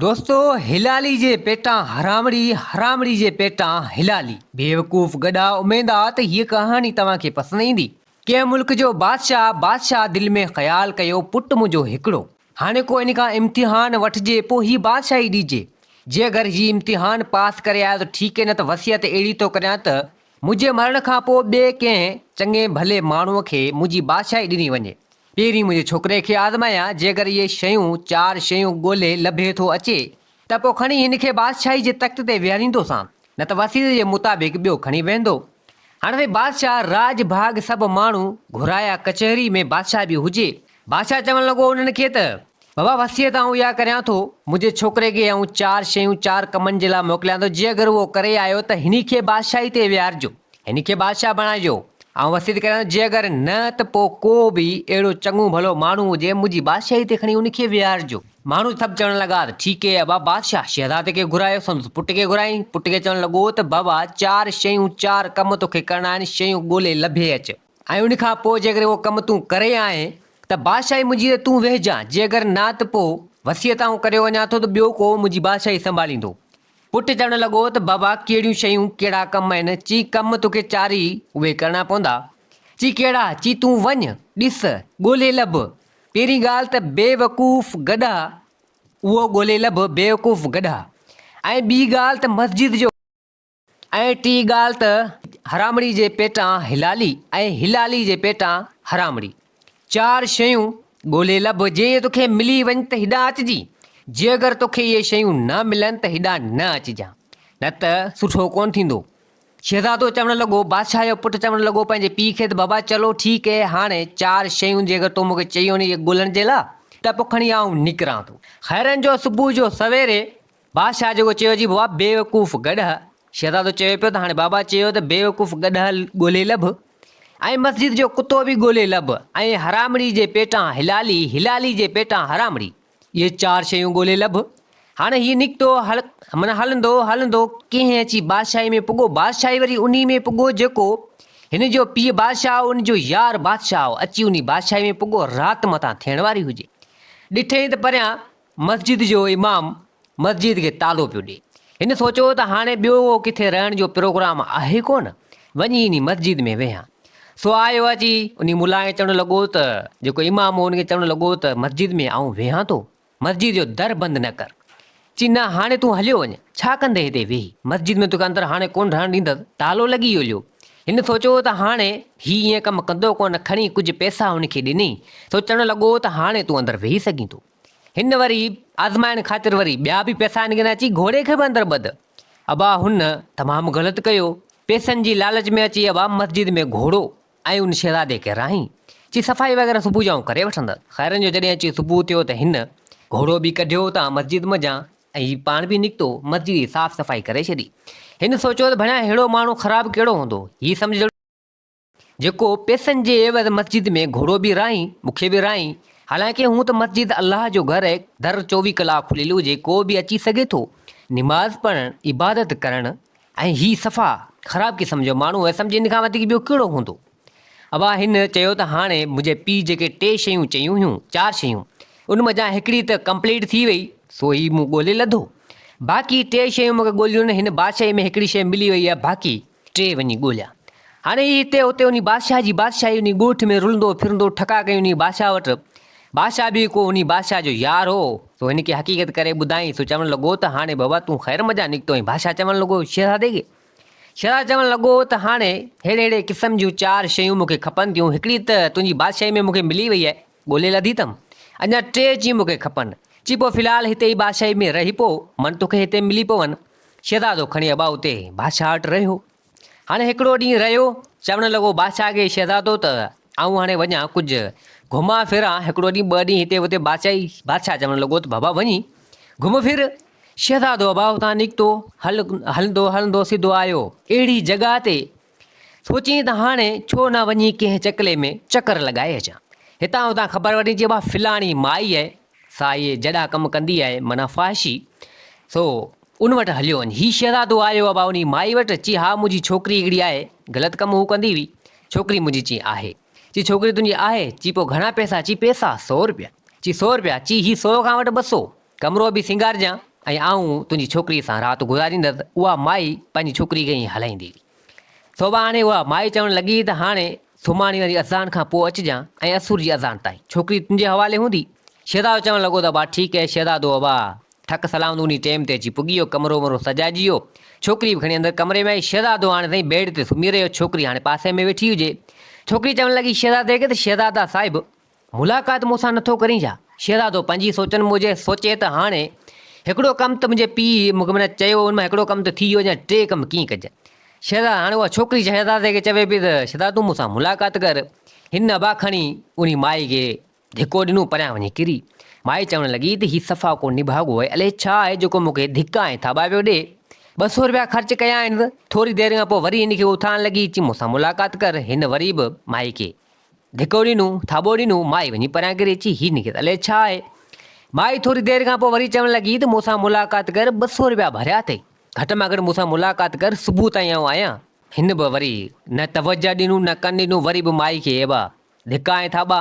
دوستو هلالي جي پيٽان حرامڙي حرامڙي جي پيٽان هلالي. بيوقوف گڏا اميد آ ته هيء ڪهاڻي توهان کي پسند ايندي. ڪنهن ملڪ جو بادشاهه بادشاهه دل ۾ خيال ڪيو پٽ منهنجو هڪڙو هاڻي ڪو ان کان امتحان وٺجي پو هي بادشاهي ڏيجي جي اگر هي امتحان پاس ڪري آيو ته ٺيڪ نه ته وصيت اهڙي ٿو ڪريان ته منهنجي مرڻ کان پو ٻئي ڪنهن چڱي ڀلي ماڻهو کي منهنجي بادشاهي ڏني وڃي پهرين منهنجي ڇوڪري کي آزمايان، جيڪر اهي شيون، چار شيون، ڳولهي لڀي ٿو اچي ته پوء کڻي هن کي بادشاهي جي تخت تي ويهاريندوسان، نه ته وسيلي جي مطابق ٻيو کڻي ويهندو. هاڻ سائين بادشاهه راڄ ڀاڳ سڀ ماڻهو گهرايا ڪچهري ۾ بادشاهه به هجي. بادشاهه چوڻ لڳو انهن کي ته بابا وصيت آئون اها ڪريان ٿو، منهنجي ڇوڪري کي آئون چار شيون چار ڪمن جي لاء موڪليان ٿو، جي اگر اهو ڪري آيو ته هن کي بادشاهي تي ويهارجو، هن کي بادشاهه بڻائجو، آئون وصيت ڪريان ٿو، جي اگر نه ته پوء ڪو به اهڙو چڱو ڀلو ماڻهو هجي منهنجي بادشاهي تي کڻي ان کي ويهارجو. ماڻهو سڀ چوڻ لڳا ته ٺيڪ اي ابا! بادشاهه شهزادي کي گهرايو، سندس پٽ کي گهرايائين، پٽ کي چوڻ لڳو ته بابا چار شيون چار ڪم توکي ڪرڻا آهن، شيون ڳولي لڀي اچ. ۽ ان کان پوء جيڪڏهن اهو ڪم تون ڪري آئين ته بادشاهي منهنجي تي تون ويهجان، جي اگر نه ته پوء وصيت آئون ڪريو وڃان ٿو ته ٻيو ڪو منهنجي بادشاهي سنڀاليندو. پٽ چوڻ لڳو ته بابا ڪهڙيون شيون، ڪهڙا ڪم آهن؟ چي ڪم توکي چارئي اهي ڪرڻا پوندا. چي ڪهڙا؟ چي تون وڃ، ڏس، ڳولهي لڀ. پهرين ڳالهه ته بيوقوف گڏهه، اهو ڳولهي لڀ، بيوقوف گڏهه. ۽ ٻي ڳالهه ته مسجد جو. ۽ ٽي ڳالهه ته حرامڙي جي پيٽان حلالي ۽ حلالي جي پيٽان حرامڙي. چار شيون ڳولهي لڀ، جي اهي توکي ملي وڃن ته هيڏانهن اچجين، جي اگر توکي اهي شيون نه ملن ته هيڏانهن نه اچجان، نه ته سٺو ڪونه ٿيندو. شهزادو چوڻ لڳو، بادشاهه جو پٽ چوڻ لڳو پنهنجي پيء کي ته بابا چلو ٺيڪ اهي هاڻي چار شيون جي اگر تو مون کي چيون ني اهي ڳولهڻ جي لاء ته پوء کڻي آئون نڪران ٿو. خيرن جو صبح جو سويري بادشاهه جيڪو چيو جي بابا بيوقوف گڏهه شهزادو چوي پيو ته هاڻي بابا چيو ته بيوقوف گڏهه ڳولي لڀ ۽ مسجد جو ڪتو به ڳولي لڀ ۽ حرامڙي جي پيٽان هلالي هلالي جي پيٽان حرامڙي اهي چار شيون ڳولي لڀ هاڻي هي نڪتو هل من هلندو هلندو ڪنهن اچي بادشاهي ۾ پڳو بادشاهي وري انهي ۾ پڳو جيڪو هن جو پيء بادشاهه هو ان جو يار بادشاهه هو اچي انهي بادشاهي ۾ پڳو رات متان ٿيڻ واري هجي ڏٺئين ته پريان مسجد جو امام مسجد کي تالو پيو ڏي. هن سوچيو ته هاڻي ٻيو ڪٿي رهڻ جو پروگرام آهي ڪونه، وڃي انهي مسجد ۾ ويهان. سو آيو اچي انهي ملا کي چوڻ لڳو ته جيڪو امام هو ان کي چوڻ لڳو ته مسجد ۾ آئون ويهان ٿو، مسجد جو در بند نه ڪر. چي نه هاڻي تون هليو وڃ، ڇا ڪندين هتي ويهي، مسجد ۾ توکي اندر هاڻي ڪونه رهڻ ڏيندس، تالو لڳي ويو هليو. هن سوچيو ته هاڻي هي ائين ڪم ڪندو ڪونه، کڻي ڪجهه پئسا هن کي ڏني. سو چوڻ لڳو ته هاڻي تون اندر ويهي سگهين ٿو. هن وري آزمائڻ خاطر وري ٻيا به پئسا آڻي ڳنا چي گهوڙي کي به اندر ٻڌ. ابا هن تمام غلط ڪيو، پئسن جي لالچ ۾ اچي ابا مسجد ۾ گهوڙو ۽ ان شهزادي کي راهين چي صفائي وغيره صبح جائون ڪري وٺندس. خيرن جو جڏهن اچي صبح ٿيو ته هن گهوڙو به ڪڍيو اتان مسجد منجهان ۽ هي پاڻ به نڪتو مسجد جي صاف صفائي ڪري ڇڏي. هن سوچيو ته ڀڻيا ههڙو ماڻهو خراب ڪهڙو هوندو، هي سمجهڙو. جيڪو پئسن جي عيوض مسجد ۾ گهوڙو به راهين، مون کي به راهين. حالانڪه هونء ته مسجد الله جو گهر آهي، در چوويهه ڪلاڪ کليل هجي ڪو به اچي سگهي ٿو. نماز پڙهڻ، عبادت ڪرڻ ۽ هي صفا خراب قسم جو ماڻهو آهي سمجهي ان کان وڌيڪ ٻيو ڪهڙو هوندو. ابا هن چيو ته هاڻي منهنجي پيء جيڪي ٽي شيون چيون هيون، چار شيون، ان منجهان هڪڙي ته ڪمپليٽ ٿي وئي، سو هي مون ڳولي لڌو. باقي ٽي شيون مون کي ڳوليون نه، هن بادشاهي ۾ هڪڙي شيء ملي وئي آهي، باقي. ٽي وڃي ڳوليا. هاڻي هي هتي هتي انهي بادشاهه جي بادشاهي انهي ڳوٺ ۾ رلندو ڦرندو ٺڪا ڪيائين انهي بادشاهه وٽ. بادشاهه به ڪو انهي بادشاهه جو يار هو، سو هن کي حقيقت ڪري ٻڌائين، سو چوڻ لڳو ته هاڻي بابا تون خير مجان نڪتو آهين بادشاهه چوڻ لڳو شهزادي کي شهزادو چوڻ لڳو ته هاڻي ههڙي ههڙي قسم جون چار شيون مون کي کپن ٿيون هڪڙي ته تنهنجي بادشاهي ۾ مون کي ملي وئي آهي، ڳولي لڌي تم، اڃا ٽي چي مون کي کپن. چي پوء في الحال هتي ئي بادشاهي ۾ رهي پو، من توکي هتي ملي پون. شهزادو کڻي ابا اتي بادشاهه وٽ رهيو. هاڻي هڪڙو ڏينهن رهيو، چوڻ لڳو بادشاهه کي شهزادو ته آئون هاڻي وڃان ڪجهه گهمان ڦران، هڪڙو ڏينهن ٻه ڏينهن هتي اتي بادشاهي، بادشاهه چوڻ لڳو ته بابا وڃي گهم ڦر. شهزادو ابا اتان نڪتو، هلندو هلندو سڌو آيو. اهڙي جڳهه تي سوچيائين ته هاڻي ڇو نه وڃي ڪنهن چڪلي ۾ چڪر لڳائي اچان. هتان هتان خبر وٺي چئبو آهي فلاڻي مائي آهي، سا اهي جهڏا ڪم ڪندي آهي، معنيٰ فحاشي، سو ان وٽ هليو وڃ. هي شهزادو آيو ابا انهي مائي وٽ، چي ها منهنجي ڇوڪري هڪڙي آهي، غلط ڪم هو ڪندي هئي. ڇوڪري منهنجي چي آهي. چي ڇوڪري تنهنجي آهي؟ چي پوء گهڻا پئسا؟ چي پئسا؟ سؤ رپيا. چي سؤ رپيا؟ چي هي سؤ کان وٽ ٻه سؤ. ڪمرو به سينگارجان ۽ آئون تنهنجي ڇوڪريء سان رات گذاريندس. اها مائي پنهنجي ڇوڪريء کي ائين هلائيندي هئي. سوڀاڻي اها مائي چوڻ لڳي ته هاڻي سومهاڻي واري اذان کان پوء اچجان ۽ اسور جي اذان تائين ڇوڪري تنهنجي حوالي هوندي. شهزادو چوڻ لڳو ته ابا ٺيڪ اهي شهزادو ابا ٺڪ سلامت انهي ٽيم تي اچي پڳي ويو. ڪمرو ومرو سجائجي ويو. ڇوڪري به کڻي اندر ڪمري ۾ آئي. شهزادو هاڻي تائين بيڊ تي سمهي رهيو. ڇوڪري هاڻي پاسي ۾ ويٺي هجي. ڇوڪري چوڻ لڳي شهزادي کي ته شهزادا صاحب! ملاقات مون سان نٿو ڪرين ڇا؟ شهزادو پنهنجي سوچن موجب سوچي ته هاڻي هڪڙو ڪم ته منهنجي پيء مون کي منهن چيو ان مان هڪڙو ڪم ته ٿي ويو اڃا ٽي ڪم ڪيئن ڪجن؟ شهزاد هاڻي اها ڇوڪري شهزادي کي چوي پئي ته شهزاد تون مون سان ملاقات ڪر. هن ابا کڻي انهي مائي کي ڌڪو ڏنو پريان وڃي ڪري. مائي چوڻ لڳي ته هي صفا ڪو نڀاڳو آهي الئي ڇا آهي جيڪو مون کي ڌڪا ۽ ٿاٻا پيو ڏي. ٻه سو رپيا خرچ ڪيائينس. ٿوري دير کان پوء وري هن کي اٿارڻ لڳي چي مون سان ملاقات ڪر هن وري به مائي کي. ڌڪوڙي نو، ٿاٻوڙي نو، مائي وڃي پريان ڪري اچي هي نڪيت الئي ڇا آهي؟ مائي ٿوري دير کان پوء وري چوڻ لڳي ته مون سان ملاقات ڪر ٻه سؤ رپيا ڀريا اٿئي، گهٽ مان گهٽ مون سان ملاقات ڪر صبح تائين آئون آهيان. هن به وري نه توجهه ڏنو نه ڪن ڏنو وري به مائي کي ايبا ڌڪا ۽ ٿاٻا.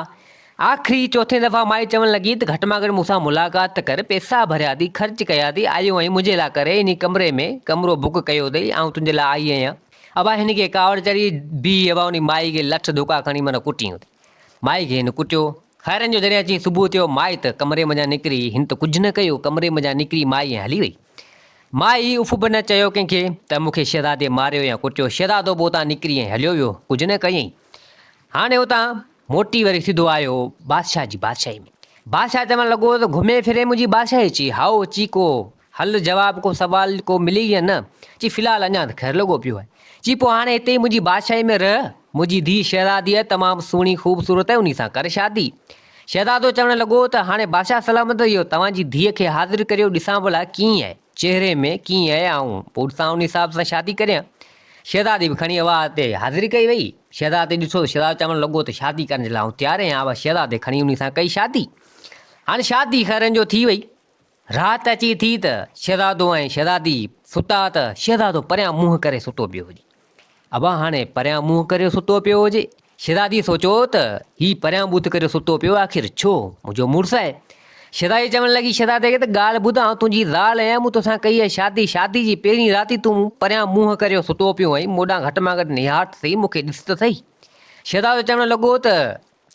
آخري چوٿين دفعا مائي چوڻ لڳي ته گهٽ مان گهٽ مون سان ملاقات ته ڪر پئسا ڀريا اٿئي خرچ ڪيا اٿئي آيو آهين منهنجي لاء ڪري انهي ڪمري ۾ ڪمرو بڪ ڪيو اٿئي آئون تنهنجي لاء آئي آهيان. ابا هن کي ڪاوڙ چڙهي بيهي ابا انهي مائي کي لٺ ڌڪا کڻي من ڪٽيئون ٿي. مائي کي هن ڪٽيو. خيرن جو جڏهن اچي صبح ٿيو مائي ته ڪمري منجهان نڪري هن ته ڪجهه نه ڪيو ڪمري منجهان نڪري مائي ائين هلي وئي. مائي اف به نه چيو ڪنهن کي ته مون کي شهزادي ماريو يا ڪٽيو شهزادو به اتان نڪري ائين هليو ويو ڪجهه نه ڪيئين. هاڻي اتان موٽي وري سڌو آيو بادشاهه جي بادشاهي ۾. بادشاهه چوڻ لڳو ته گهمي ڦري منهنجي بادشاهي چي هائو چيڪو هل جواب ڪو سوال ڪو ملي يا نه؟ چي في الحال اڃان ته خير لڳو پيو آهي. چي پوء هاڻي هتي ئي منهنجي بادشاهي ۾ رهه. منهنجي ڌيء شهزادي آهي تمام سهڻي خوبصورت ۽ انهي سان ڪر شادي. شهزادو چوڻ لڳو ته هاڻي بادشاهه سلامت اهو توهان جي ڌيء کي حاضر ڪريو ڏسان ڀلا ڪيئن آهي چهري ۾ ڪيئن آهي آئون پوء ڏسان انهي حساب سان شادي ڪريان. شهزادي به کڻي اها هتي حاضر ڪئي وئي. شهزادي ڏٺو ته شهزادو چوڻ لڳو ته شادي ڪرڻ جي لاء آئون تيار آهيان اها شهزادي کڻي انهي سان ڪئي شادي. هاڻي شادي خيرن جو ٿي وئي. رات اچي ٿي ته شهزادو ۽ شهزادي ستا ته شهزادو پريان منهن ڪري ستو پيو هجي. ابا هاڻي پريان منهن ڪري ستو پيو هجي. شهزادي سوچيو ته هي پريان بت ڪري ستو پيو آخر ڇو؟ منهنجو مڙس آهي. شهزادي چوڻ لڳي شهزادي کي ته ڳالهه ٻڌ آئون تنهنجي زال آهيان مون توسان ڪئي آهي شادي، شادي جي پهرين رات ئي تون پريان منهن ڪري ستو پيو آهين مون ڏانهن گهٽ مان گهٽ نهار ته سهي مون کي ڏس ته سهي. شهزادو چوڻ لڳو ته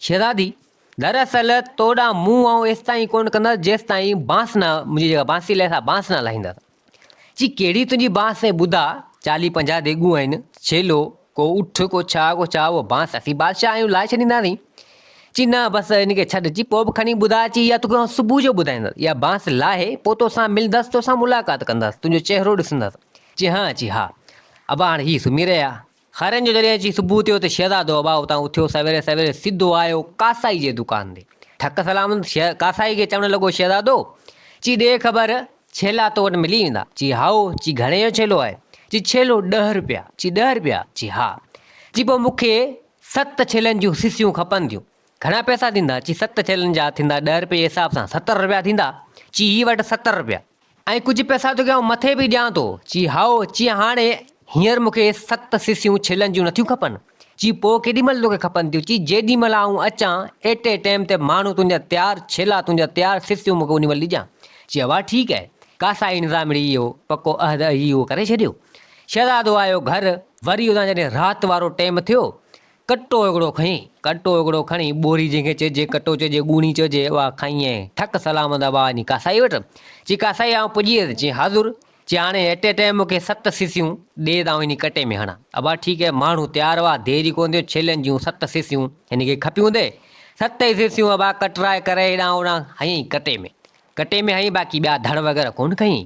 شهزادي! در اصل تو ڏانهن منهن آئون ايستائين ڪونه ڪندس جيستائين بانس نه منهنجي جيڪا بانسري لائي سا بانس نه لاهيندس. چي ڪهڙي تنهنجي بانس سائين ٻڌاء، چاليهه پنجاهه ديڳون آهن، ڇيلو، ڪو اٺ، ڪو ڇا، ڪو ڇا، اها بانس اسين بادشاهه آهيون لاهي ڇڏينداسين. چي نه بس هن کي ڇڏ، چي پوء به کڻي ٻڌاء، چي اها توکي آئون صبح جو ٻڌائيندس، اها بانس لاهي پوء توسان ملندس، توسان ملاقات ڪندس، تنهنجو چهرو ڏسندس. چي هانء، چي ها. ابا هاڻ هي سمهي رهيا. خيرن جو جڏهن اچي صبح ٿيو ته شهزادو ابا اتان اٿيو سويري سويري سڌو آيو ڪاسائي جي دڪان تي ٺڪ سلام شهز ڪاسائي کي چوڻ لڳو شهزادو چي ڏي خبر ڇيلا تو وٽ ملي ويندا چي هائو چي گهڻي جو ڇيلو آهي چي ڇيلو ڏهه روپيا چي ڏهه روپيا چي ها چي پوء مون کي ست ڇيلن جون سسيون کپن ٿيون گهڻا پئسا ٿيندا چي ست ڇيلن جا ٿيندا ڏهه روپيه جي حساب سان ستر روپيا ٿيندا چي هي وٺ ستر روپيا ۽ ڪجهه پئسا توکي آئون مٿي به ڏيان ٿو. چي هائو، چي هاڻي هينئر مون کي ست سسيون ڇلن جون نٿيون کپن. چي پوء ڪيڏي مهل توکي کپن ٿيون؟ چي جيڏي مهل آئون اچان، ايٽي ٽيم تي ماڻهو تنهنجا تيار، ڇيلا تنهنجا تيار، سسيون مون کي انهي مهل ڏجان. چي اها ٺيڪ آهي. قاصائي نظامڙي اهو پڪو عهد اهي اهو ڪري ڇڏيو. شهزادو آيو گهر، وري ادان جڏهن رات وارو ٽيم ٿيو ڪٽو اڳڙو کڻي، ڪٽو اڳڙو کڻي، ٻوري جنهن کي چئجي، ڪٽو چئجي، ڳوڻي چئجي، اها کائين ۽ ٺڪ سلام ادا ٻاهر وڃي ڪاسائي وٽ. چي ڪاسائي آئون پڄي ويس. چي حاضر. چي هاڻي ايٽ اي ٽائيم مون کي ست سيسيون ڏي ته آئون هن ڪٽي ۾ هڻان. ابا ٺيڪ هي. ماڻهو تيار هئا. دير ئي ڪونه ٿيو. ڇيلن جون ست سيسيون هن کي کپيون ٿي. ست ئي سيسيون ابا ڪٽرائي ڪري هيڏانهن هوڏانهن هنيئي ڪٽي ۾. ڪٽي ۾ هنئين باقي ٻيا ڌڻ وغيره ڪونه کنئين.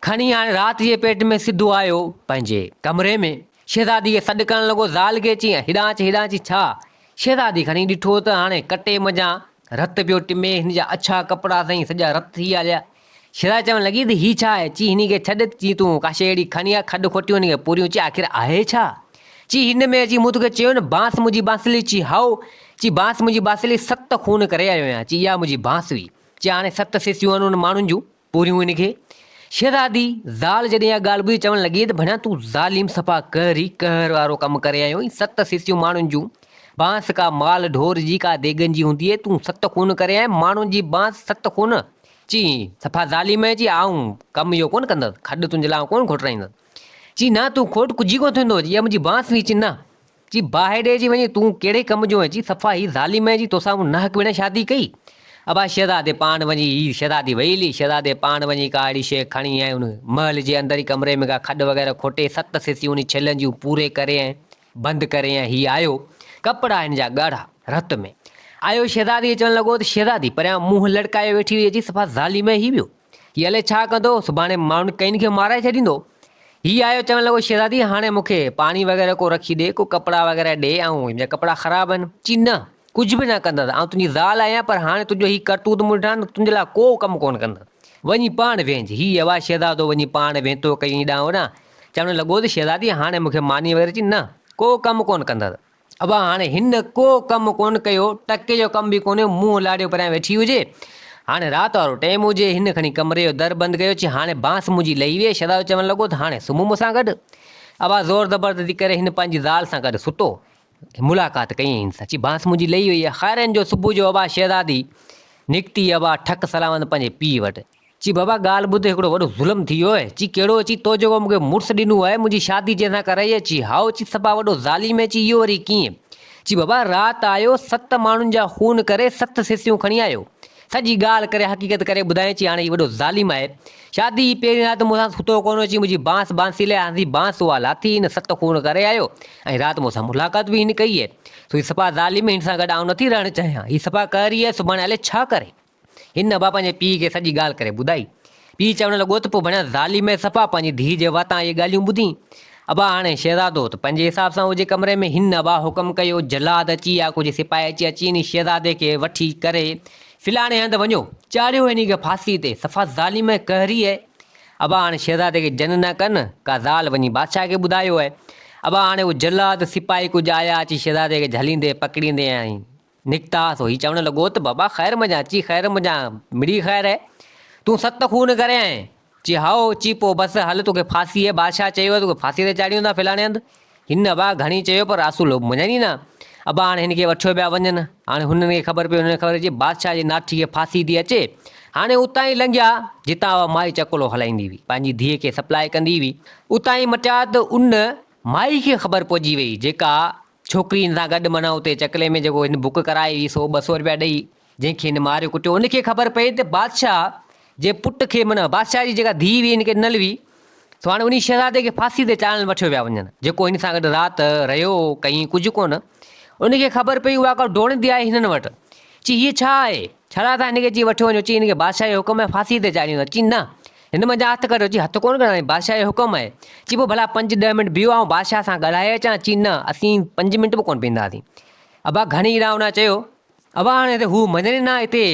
کڻي هاڻي رات جي پيٽ ۾ سڌو آيو پنهنجي. ڪمري ۾. شهزادي کي سڏ ڪرڻ لڳو زال کي چيائين هيڏانهن اچ هيڏانهن اچ ڇا؟ شهزادي کڻي ڏٺو ته هاڻي ڪٽي منجهان رت پيو ٽمي هن جا اڇا ڪپڙا سائين سڄا رت ٿي ويا هليا. شهزادي چوڻ لڳي ته هي ڇا آهي؟ چي هن کي ڇڏ چي تون ڪا شيء اهڙي کڻي آ کڏ کوٽيون هن کي پوريون چي آخر آهي ڇا؟ چي هن ۾ چي مون توکي چيو نه بانس منهنجي بانسلي چي هائو چي بانس منهنجي بانسلي ست خون ڪري آيو آهيان چي اها منهنجي بانس هئي. جي هاڻي ست سيسيون آهن ان ماڻهن جون پوريون هن کي. شهزادي زال جڏهن اها ڳالهه ٻڌي چوڻ لڳي ته ڀڻيا تون ظالم صفا قهر ئي قهر وارو ڪم ڪري آيو آهين ست سيسيون ماڻهن جون بانس ڪا مال ڍور جي ڪا ديڳن جي هوندي آهي تون ست خون ڪري آئين ماڻهن جي بانس ست خون چي صفا ظالم آهين چي آئون ڪم اهو ڪونه ڪندس کڏ تنهنجي لاء آئون ڪونه کوٽرائيندس چي نه تون کوٽ ڪجهه ئي ڪونه ٿيندو جي اها منهنجي بانس هئي چي نه چي باهه ڏي جي وڃي تون ڪهڙي ڪم جو آهين چي صفا هي ظالم آهين جي توسان مون ناحق ويڙهين شادي ڪئي ابا شهزادي پاڻ وڃي هي شهزادي ويلي شهزادي پاڻ وڃي ڪا اهڙي شيء کڻي ۽ ان محل جي اندرئين ڪمري ۾ ڪا کڏ وغيره کوٽي ست سيسيون انهي ڇلن جون پوري ڪري ۽ بند ڪري ۽ هي آيو ڪپڙا هن جا ڳاڙها رت ۾ آيو شهزادي اچڻ لڳو ته شهزادي پريان منهن لڙڪايو ويٺي هئي چي صفا ظالم آهين هي ٻيو هي الئي ڇا ڪندو، سڀاڻي ماڻهن ڪئين کي مارائي ڇڏيندو. هي آيو چوڻ لڳو شهزادي هاڻي مون کي پاڻي وغيره ڪو رکي ڏي، ڪو ڪپڙا وغيره ڏي ۽ هن جا ڪپڙا خراب آهن. چي نه، ڪجهه به نه ڪندس، آئون تنهنجي زال آهيان پر هاڻي تنهنجو هي ڪرتوت مون ڏٺا آهن ته تنهنجي لاء ڪو ڪم ڪونه ڪندس. وڃي پاڻ ويهج. هي يوا شهزادو وڃي پاڻ وينتو ڪيئي ڏانهن ڏانهن، چوڻ لڳو ته شهزادي هاڻي مون کي ماني وغيره چي نه، ڪو ڪم ڪونه ڪندس. ابا هاڻ هن ڪو ڪم ڪونه ڪيو، ٽڪي جو ڪم به ڪونه، منهن لاڏيو پريان ويٺي هجي. هاڻ رات وارو ٽيم هجي. هن کڻي ڪمري جو در بند ڪيو، چي هاڻي بانس منهنجي لهي ويئي، شهزادو چوڻ لڳو ته هاڻي سمهه مون سان گڏ. ابا زور زبردستي ڪري هن پنهنجي زال سان گڏ ستو. ملاقات ڪيائين هن سان، چي بانس منهنجي لهي ويئي. خيرن جو صبح جو ابا شهزادي نڪتي، ابا ٺڪ سلامت پنهنجي پيء وٽ. چي بابا ڳالهه ٻڌ هڪڙو وڏو ظلم ٿي ويو آهي، چي ڪهڙو، چي تو جيڪو مون کي مڙس ڏنو آهي منهنجي شادي جنهن سان ڪرائي آهي، چي هائو، چي سڀا وڏو ظالم آهي، چي اهو وري ڪيئن، چي بابا رات آيو ست ماڻهن جا خون ڪري ست سيسيون کڻي آيو، سڄي ڳالهه ڪري حقيقت ڪري ٻڌائين، چي هاڻي هي وڏو ظالم آهي، شادي جي پهرين رات مون سان ستو ڪونه هو، چي منهنجي بانس بانسي لئي آندي بانس اها لاٿي هن ست خون ڪري آيو ۽ رات مون سان ملاقات به هن ڪئي آهي، سو هي سپا ظالم آهي هن سان گڏ آئون نٿي رهڻ چاهيان، هي سپا قهري آهي سڀاڻي الائي ڇا ڪري. هن ابا پنهنجي پيء کي سڄي ڳالهه ڪري ٻڌائي. پيء چوڻ لڳو ته پوء ڀڻيا ظالمي صفا پنهنجي ڌيء جي واتان اهي ڳالهيون ٻڌين. ابا هاڻي شهزادو ته پنهنجي حساب سان هجي ڪمري ۾، هن ابا حڪم ڪيو جلاد اچي يا ڪجهه سپاهي اچي اچي انهي شهزادي کي وٺي ڪري فلاڻي هنڌ وڃو. چاڙهيو انهي کي ڦاسي تي. صفا ظالمي قهري اهي ابا هاڻي شهزادي کي جن نه ڪن. ڪا زال وڃي بادشاهه کي ٻڌايو اهي ابا هاڻي اهي جلاد سپاهي ڪجهه آيا اچي شهزادي کي جهليندي پڪڙيندي ۽ نڪتا سو هي چوڻ لڳو ته بابا خير منجهان؟ چي خير منجهان مڙئي خير هي، تون ست خون ڪري آئين؟ چي هائو، چي پوء بس هل توکي ڦاسي هي، بادشاهه چيو هي توکي ڦاسي تي چاڙهيون ٿا فلاڻي هنڌ. هن ابا گهڻي چيو پر آسو لوڀ مڃن ئي نه. ابا هاڻ هن کي وٺيو پيا وڃن. هاڻ هنن کي خبر پئي هنن کي خبر چي بادشاهه جي ناٺي کي ڦاسي ٿي اچي. هاڻي اتان ئي لنگهيا جتان اها مائي چڪلو هلائيندي هئي، پنهنجي ڌيء کي سپلاء ڪندي هئي. اتان ئي مٽيا ته ان مائي کي خبر پئجي وئي جيڪا ڇوڪرين سان گڏ معنيٰ اتي چڪلي ۾ جيڪو هن بڪ ڪرائي هئي سو ٻه سؤ رپيا ڏئي جنهن کي هن ماريو ڪٽيو ان کي خبر پئي ته بادشاهه جي پٽ کي معنيٰ بادشاهه جي جيڪا ڌيء هئي هن کي ڏنل هئي سو هاڻي انهي شهزادي کي ڦاسي تي چاڙهڻ وٺيو ويا وڃن جيڪو هن سان گڏ رات رهيو هو ڪيئي ڪجهه ڪونه ان کي خبر پئي اها ڪا ڊوڙندي آئي هنن وٽ چي هيء ڇا آهي ڇا لاء تان هن کي چي وٺيو وڃو چي هن کي بادشاهه جو حڪم آهي ڦاسي تي چاڙهيون ٿا چي نه هن منجهان هٿ ڪڍيو، چي هٿ ڪونه ڪڍندائين، بادشاهه جو حڪم آهي. چي پوء ڀلا پنج ڏهه منٽ بيهو، آئون بادشاهه سان ڳالهائي اچان. چي نه، اسين پنج منٽ به ڪونه بيهنداسين. ابا گهڻي اڙاونا چيو. ابا هاڻي ته هو مڃڻي نه هتي.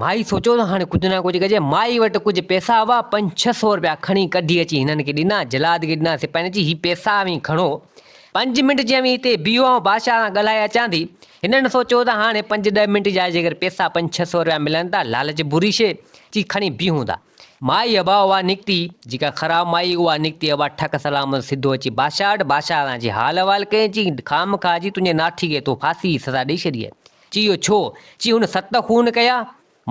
مائي سوچيو ته هاڻي ڪجهه نه ڪجهه ڪجي. مائي وٽ ڪجهه پئسا هئا، پنج ڇهه سؤ رپيا کڻي ڪڍي اچي هنن کي ڏنا. جلاد کي ڏنا. سپاهين چي هي پئسا اوهين کڻو. پنج منٽ جي اوهين هتي بيهو، آئون بادشاهه سان ڳالهائي اچان ٿي. هنن سوچيو ته هاڻي پنج ڏهه منٽ جي آء جيڪر پئسا پنج ڇهه سؤ رپيا ملن ته لالچ بري شيء. چي کڻي بيهون ٿا. مائي ابا اها نڪتي جيڪا خراب مائي اها نڪتي ابا ٺڪ سلامت سڌو اچي بادشاهه وٽ بادشاهه تان اچي حال احوال ڪيائين چي خامخواه جي تنهنجي ناٺي کي تو ڦاسي جي سزا ڏئي ڇڏي آهي چي اهو ڇو چي هن ست خون ڪيا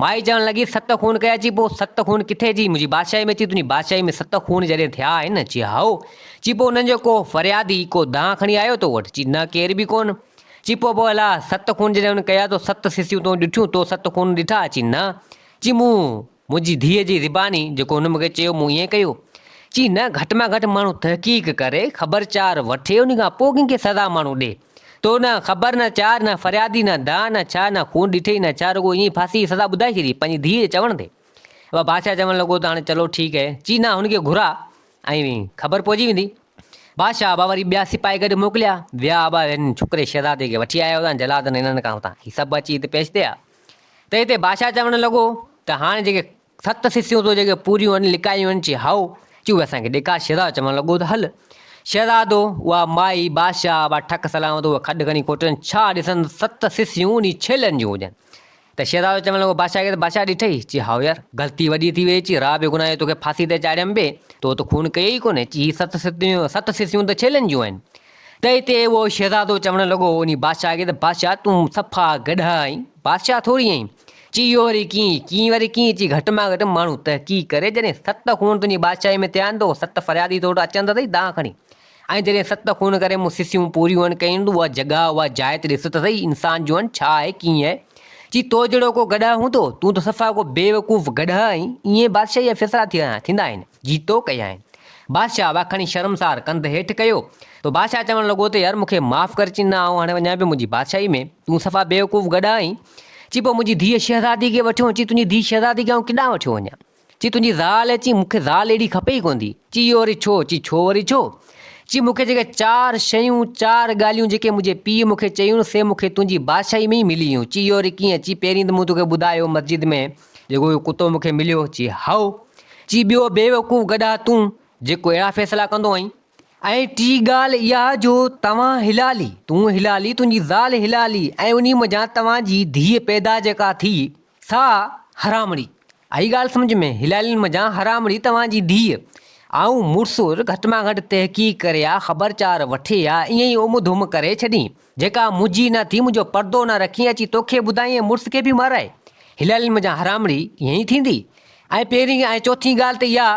مائي چوڻ لڳي ست خون ڪيا چي پوء ست خون ڪٿي چي منهنجي بادشاهي ۾ چي تنهنجي بادشاهي ۾ ست خون جڏهن ٿيا آهن چي هائو چي پوء انهن جو ڪو فريادي ڪو دانهن کڻي آيو تو وٽ چي نه ڪير به ڪونه چي پوء پوء الاء ست خون جڏهن هن ڪيا تو ست سسيون تون ڏٺيون تو ست خون ڏٺا چي نه چي مون منهنجي ڌيء جي زباني جيڪو هن مونکي چيو مون ائين ڪيو. چي نه گهٽ مان گهٽ ماڻهو تحقيق ڪري خبر چار وٺي انهي کان پوء ڪنهن کي سزا ماڻهو ڏي. تو نه خبر نه چار نه فريادي نه داء نه ڇا نه خون ڏٺئي نه ڇا رڳو ائين ئي ڦاسي جي سزا ٻڌائي ڇڏي پنهنجي ڌيء جي چوڻ تي. اهو بادشاهه چوڻ لڳو ته هاڻي چلو ٺيڪ هي. چي نه هن کي گهراء ۽ خبر پئجي ويندي. بادشاهه ابا وري ٻيا سپاهي گڏ موڪليا ويا ابا هن ڇوڪري شهزادي کي وٺي آيا هئا جلادن هنن کان هتان هي سڀ اچي هت پيش ٿيا. ته هتي بادشاهه چوڻ لڳو ته هاڻي جيڪي ست سسيون تو جيڪي پوريون هن لڪايون هن چي هائو چي اهي اسان کي ڏيکار شهزاد چوڻ لڳو ته هل شهزادو اها مائي بادشاهه اها ٺڪ سلامت اهو کڏ کڻي کوٽين ڇا ڏسن ست سسيون انهي ڇيلن جون هجن ته شهزادو چوڻ لڳو بادشاهه کي ته بادشاهه ڏٺئي چي هائو يار غلطي وڏي ٿي وئي چي راء بي گناهه جو توکي ڦاسي تي چاڙهيم به تو ته خون ڪيئي ڪونهي چي هي ست سسيون ست سسيون ته ڇيلن جون آهن تنهن تي اهو شهزادو چوڻ لڳو انهي بادشاهه کي ته بادشاهه تون صفا گڏهه آهين، بادشاهه ٿوري آهين، چي اهو وري ڪيئن، ڪيئن وري ڪيئن، چي گهٽ مان گهٽ ماڻهو تحقيق ڪري، جڏهن ست خون تنهنجي بادشاهي ۾ ٿيا آهن ته اهو ست فريادي تو وٽ اچن ته سهي دانهن کڻي، ۽ جڏهن ست خون ڪري مون سسيون پوريون هن ڪيون ته اها جڳهه، اها جاء ته ڏس ته سهي انسان جو هن ڇا آهي، ڪيئن آهي، چي تو جهڙو ڪو گڏهه هوندو، تون ته صفا ڪو بيوقوف گڏهه آهين، ايئن بادشاهي جا فيصلا ٿيندا آهن. جيتو ڪيائين. بادشاهه اها کڻي شرمسار ڪنڌ هيٺ ڪيو ته بادشاهه چوڻ لڳو ته يار مون کي معاف ڪر چينا آئون هاڻي وڃان پيو منهنجي بادشاهي ۾ تون صفا بيوقوف گڏا آهين چي پوء منهنجي ڌيء شهزادي کي وٺيون چي تنهنجي ڌيء شهزادي کي آئون ڪيڏانهن وٺيو وڃان چي تنهنجي زال هي چي مون کي زال اهڙي کپي ئي ڪوندي چي اهو وري ڇو چي ڇو وري ڇو چي مون کي جيڪي چار شيون چار ڳالهيون جيڪي منهنجي پيء مون کي چيون سي مون کي تنهنجي بادشاهي ۾ ئي ملي هيون چي اهو وري ڪيئن چي پهرين ته مون توکي ٻڌايو مسجد ۾ جيڪو اهو ڪتو مون کي مليو؟ چي، هائو! چي، ٻيو بيوقوف گڏها تون، جيڪو اهڙا فيصلا ڪندو آهين. ۽ ٽي ڳالهه اها جو توهان هلالي، تون هلالي، تنهنجي زال هلالي ۽ انهي منجهان توهان جي ڌيء پيدا جيڪا ٿي، سا حرامڙي. آئي ڳالهه سمجهه ۾؟ هلالين منجهان حرامڙي توهان جي ڌيء. آئون مڙس گهٽ مان گهٽ تحقيق ڪري ها، خبرچار وٺي ها، ائين ئي اوم ڌوم ڪري ڇڏين. جيڪا منهنجي نه ٿي منهنجو پردو نه رکين اچي توکي ٻڌائين ۽ مڙس کي به مارائي هلالين منجهان هرامڙي ائين ئي ٿيندي ۽ پهرين ۽ چوٿين ڳالهه ته اها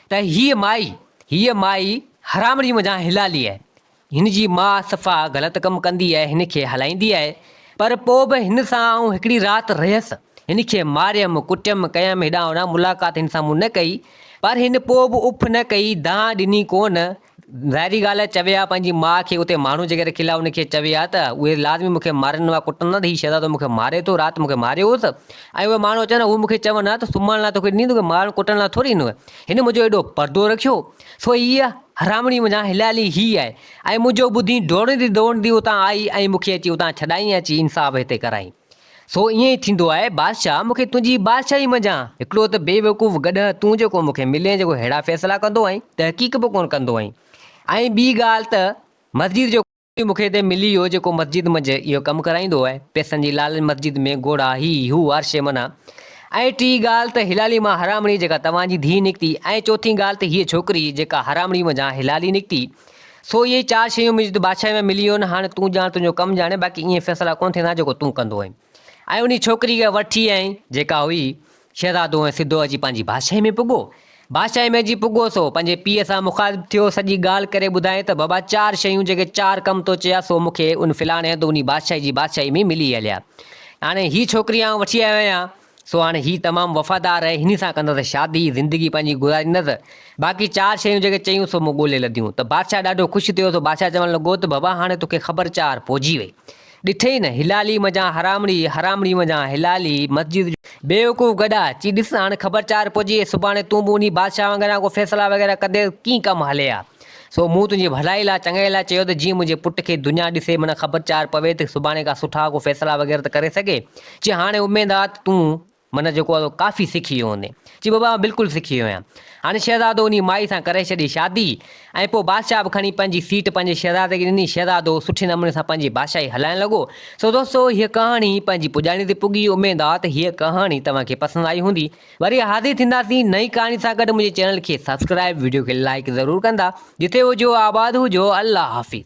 ته هيء مائي هيء مائي هرامڙي منجهان هلالي آهي هن جي ماء صفا غلط ڪم ڪندي آهي هن کي هلائيندي آهي پر پوء به هن سان آئون هڪڙي رات رهيس هن کي ماريم ڪٽيم ڪيم هيڏانهن هوڏانهن ملاقات هن سان مون نه ڪئي پر هن پوء به اڦ نه ڪئي دانهن ڏني ڪونه ظاهري ڳالهه آهي چوي ها پنهنجي ماء کي اتي ماڻهو جيڪي رکيل ها ان کي چوي ها ته اهي لازمي مون کي مارن ها ڪٽن ها ته هي شهزادو مون کي ماري ٿو رات مون کي ماريو هوس ۽ اهي ماڻهو اچن ها اهي مون کي چون ها ته سمهڻ لاء توکي ڏيندو مارڻ ڪٽڻ لاء ٿوري ڏيندو هن منهنجو ايڏو پردو رکيو سو هيء حرامڙي منهنجا هليالي هيء آهي ۽ منهنجو ٻڌي ڊوڙندي ڊوڙندي اتان آئي ۽ مون کي اچي اتان ڇڏائين ۽ چي انصاف هتي ڪرائين سو ائين ئي ٿيندو آهي بادشاهه مون کي تنهنجي بادشاهي منجهان هڪڙو ته بي وقوف گڏهه تون جيڪو مون کي ملين جيڪو ههڙا فيصلا ڪندو ۽ تحقيق به ڪونه ڪندو آهين ۽ ٻي ڳالهه ته مسجد جو مون کي ته ملي ويو جيڪو مسجد منجهه اهو ڪم ڪرائيندو آهي پئسن جي لالچ مسجد ۾ گهوڙا هي هو هر شيء منان ۽ ٽي ڳالهه ته هلالي مان حرامڙي جيڪا توهان جي ڌيء نڪتي ۽ چوٿين ڳالهه ته هيء ڇوڪري جيڪا حرامڙي منجهان هلالي نڪتي سو اهي چار شيون مينس جو بادشاهي ۾ ملي ويون هاڻي تون ڄاڻ تنهنجو ڪم ڄاڻي باقي ائين فيصلا ڪونه ٿيندا جيڪو تون ڪندو آهين ۽ انهي ڇوڪري کي وٺي آئين جيڪا هئي شهزادو ۽ سڌو اچي پنهنجي بادشاهي ۾ پڳو بادشاهي ۾ جي پڳو سو پنهنجي پيء سان مخاطب ٿيو سڄي ڳالهه ڪري ٻڌائين ته بابا چار شيون جيڪي چار ڪم تو چيا سو مون کي ان فلاڻي هنڌ انهي بادشاهي جي بادشاهي ۾ ملي هليا هاڻي هي ڇوڪري آئون وٺي آيو آهيان سو هاڻي هي تمام وفادار آهي، هني سان ڪندس شادي، زندگي پنهنجي گذاريندس. باقي چار شيون جيڪي چيون سو مون ڳولي لڌيون. ته بادشاهه ڏاڍو خوش ٿيو، سو بادشاهه چوڻ لڳو ته بابا هاڻي توکي خبر چار پوجي وئي. ڏٺئي نه، هلالي منجهان حرامڙي، حرامڙي منجهان هلالي، مسجد جو. بيوقوف گڏا، چي ڏس هاڻي خبر چار پوجي وئي، سڀاڻي تون به انهي بادشاهه وانگر يا ڪو فيصلا وغيره ڪنديس، ڪيئن ڪم هلي ها. سو مون تنهنجي ڀلائي لاء، چڱائي لاء چيو ته جيئن منهنجي پٽ کي دنيا ڏسي معنيٰ خبر چار پوي ته سڀاڻي ڪا سٺا ڪو فيصلا وغيره ته ڪري سگهي. چي هاڻي اميد آ ته تون معنيٰ جيڪو آ سو ڪافي سکي ويو هوندين. چي بابا آئون بلڪل سکي ويو آهيان. هاڻي شهزادو انهيء مائي سان ڪري ڇڏي شادي ۽ پوء بادشاهه به کڻي پنهنجي سيٽ پنهنجي شهزادي کي ڏني. شهزادو سٺي نموني سان پنهنجي بادشاهي هلائڻ لڳو. سو دوستو هيء ڪهاڻي پنهنجي پڄاڻي تي پڳي. اميد آ ته هيء ڪهاڻي توهان کي پسند آئي هوندي. وري حاضر ٿينداسين نئين ڪهاڻي سان گڏ منهنجي چينل کي سبسڪرائب وڊيو کي لائڪ ضرور ڪندا جتي هجو آباد هجو الله حافظ.